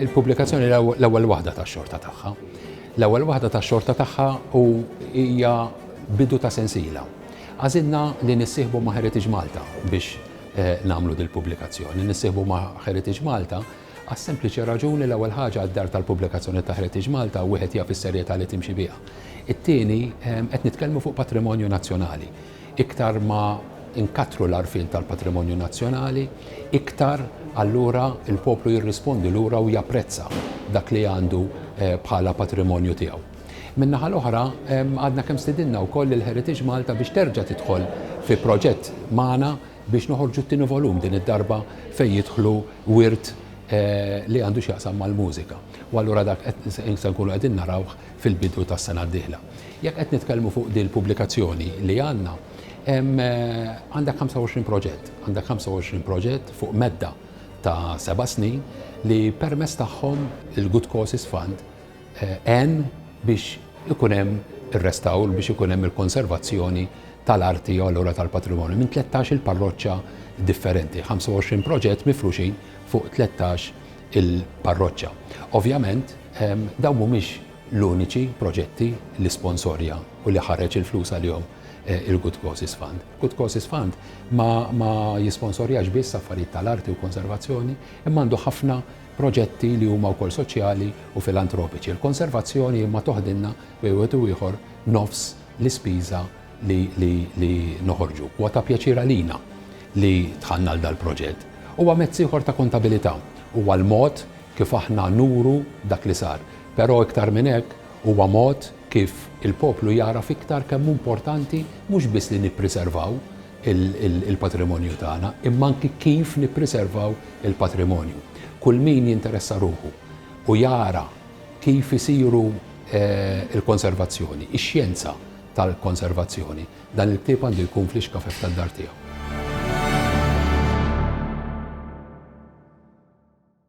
il-pubblikazzjoni l-ewwel waħda tax-xorta tagħha. L-ewwel waħda tax-xorta tagħha u hija bidu ta' sensiela. Għażilna li nissieħbu ma' Heritage Malta biex nagħmlu dil-pubblikazzjoni. Nissieħbu ma' Heritage Malta għas-sempliċi raġuni l-ewwel ħaġa d-dar tal-pubblikazzjoni ta' Heritage Malta wieħed jaf is-serjetà li timxi biha. It-tieni, qed nitkellmu fuq patrimonju nazzjonali. Iktar ma nkattru l-għarfien tal-patrimonju nazzjonali, iktar allura l-poplu jirrispondi lura u japprezza dak li għandu bħala patrimonju tiegħu. Min-naħa l-oħra, għadna kemm stidinna wkoll lil Heritage Malta biex terġa' tidħol fi proġett magħna biex noħorġu t-tieni volum, din id-darba fejn jidħlu wirt li għandu x'jaqsam mal-mużika. U allura dak se nkunu qegħdin narawh fil-bidu tas-sena d-dieħla. Jekk qed nitkellmu fuq din il-pubblikazzjoni li għandna, għandek 25 proġett. Għandek 25 proġett fuq medda ta' seba' snin li permezz tagħhom il-Good Causes Fund għen biex ikun hemm ir-restawr, biex ikun hemm il-konservazzjoni tal-arti u allura tal-patrimonju minn 13 il-parroċċa differenti, 25 proġett mifruxin fuq 13 il-parroċċa. Ovvjament, ehm, dawn mhumiex l-uniċi proġetti li sponsorja u li ħareġ il-flus għalihom eh, il-Good Causes Fund. Good Causes Fund ma, ma jisponsorjax biss affarijiet tal-arti u konservazzjoni, imma għandu ħafna proġetti li huma wkoll soċjali u filantropiċi. Il-konservazzjoni imma toħdilna bejn wieħed u ieħor nofs l-ispiża li, li, li noħorġu. Huwa ta' pjaċir għalina li dħalna għal dal-proġett. Huwa mezz ieħor ta' kontabilità. Huwa l-mod kif aħna nuru dak li sar. Però iktar minn hekk, huwa mod kif il-poplu jagħraf iktar kemm hu importanti mhux biss li nippriservaw il-patrimonju tagħna, imma anki kif nippriservaw il-patrimonju. Kull min jinteressa ruħu u jara kif isiru l-konservazzjoni, ix-xjenza tal-konservazzjoni, dan il-ktieb għandu jkun fl-ixkafef tad-dar tiegħu.